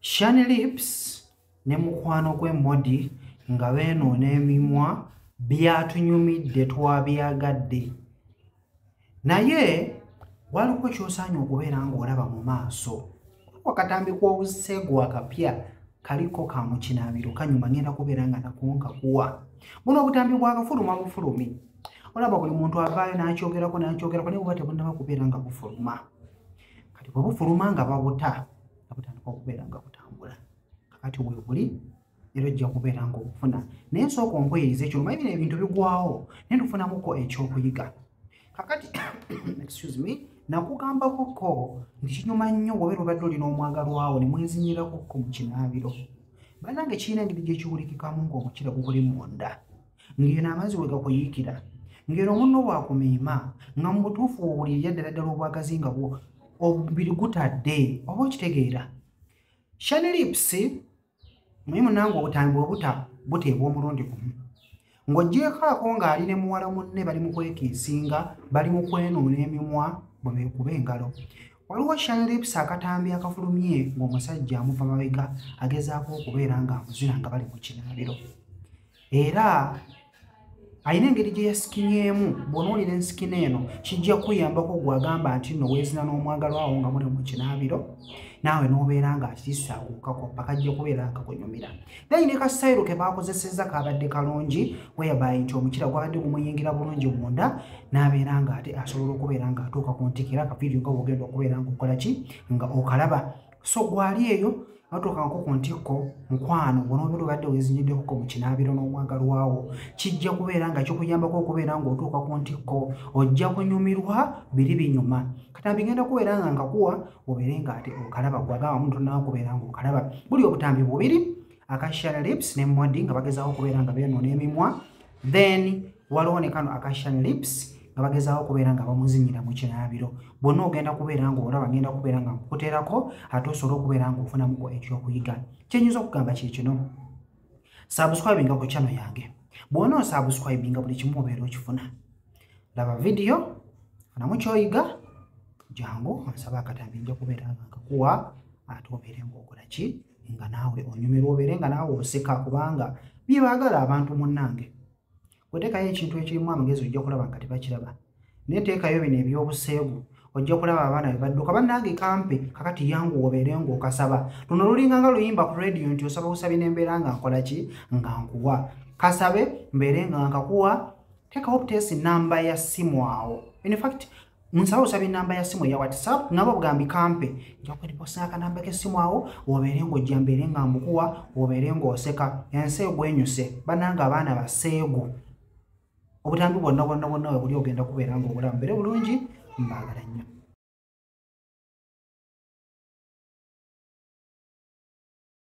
shani lips ne mukwano gwe modi nga beenoona emimwa byatunyumidde twabyagadde naye waliko kyosaanye okubeera ng'olaba mu maaso wakatambi kw'obuseegu akapya kaliko ka mukinaabiro kanyuma ngenda kubeera nga nakonka kuwa buno obutambi bwakafuluma bufulumi olaba buli muntu avaayo n'akyogerako n'akyogerako naye buba tebunaba kubeera nga bufuluma kati bwe bufuluma nga babuta nga butandika okubeera nga butambula kakati webuli era ojja kubeera nga obufuna naye nsooka ompuyiriza ekyo omanyi bino ebintu bigwawo naye ntufunamuko ekyokuyiga kakati excuse me nakugambako ko nti kinyuma nnyo wabeera obadde olina omwagalwawo ne mwezinyirako ko mu kinaabiro banange kirina engeri gyekiwulikikamu ng'omukira gukuli munda ng'eno amazzi we gakuyiikira ng'eno omunno bwakumiima nga mu butuufu owulirira ddala ddala obwagazi nga bwo omubiri gutadde oba okitegeera shani lips naye munange obutambi bwebuta buteebwa omulundi gumu ng'ogyekaako ng'ali ne muwala munne bali mu kwekiisinga bali mu kwenuuna emimwa bwe beekuba engalo waliwo shanlips akatambi akafulumye ng'omusajja amuva mabega agezaako okubeera ng'amuzina nga bali mu kinaabiro era alina engeri gye yasikinyeemu bw'onoolira ensikina eno kijja kuyambako gwe agamba nti nno weezina n'omwagalo awo nga muli mu kinaabiro naawe n'obeera nga akisaaguukako mpaka jja kubeera nga kunyumira naye ne kasayiro ke baakozesezza kaabadde kalungi weyabaye nti omukira gwabadde gumuyingira bulungi munda n'abeera nga ate asobola okubeera nga atuuka ku ntikira akaviiriyo nga bwogenda okubeera nga okola ki nga okalaba so gwali eyo notuuka nko ku ntikko mukwano bonobeera obadde wezinyiddekoko mu kinaabiro n'omwagalwawo kijja kubeera nga kikuyambako okubeera ng'otuuka ku ntikko ojja kunyumirwa biri binyuma kata bigenda kubeera nga ngakuwa obeere nga ate okalaba gwagamba muntu nawe kubeera nga okalaba buli obutambi bubiri akashara lips ne mwadi nga bagezaako okubeera nga byonoona emimwa then waliwo ne kano akashan lips nga bagezaako okubeera nga bamuzinyira mu kinaabiro bwonna ogenda kubeera nga olaba ngenda kubeera nga nkukuterako ate osobola okubeera nga ofunamuko ekyokuyiga kyenyinza okugamba kye kino saabuswabinga ku kyano yange bw'ona osaabuswabinga buli kimu obeera okifuna laba vidiyo funamu kyoyiga jangu onsaba akatambi nja kubeera nga nkakuwa ate obeere ngaokola ki nga naawe onyumirwa obeere nga naawe oseka kubanga byebaagala abantu munnange weteekayo ekintu ekirimu amagezi ojja kulaba nga tebakiraba naye teekayo bino ebyobuseegu ojja kulaba abaana be badduka bannange kampe kakati yangu obeere ngaokasaba luno lulinga nga luyimba ku rediyo nti osaba busabi nembeera nga nkola ki nga nkuwa kasabe mbeere nga nkakuwa teekawo obutesi namba ya simu awo in fact nsaba osaba enamba ya simu eya whatsapp nabo bugambi kampe njakuliposa akanamba kesimu awo obeere ngaojja mbeere nga mbukuwa obeere ngaoseka ensi egwenyuse bananga abaana baseegu obutambi bwonna bwonna bwonna webuli ogenda kubeera nga obulamu bere bulungi mbaagala nnyo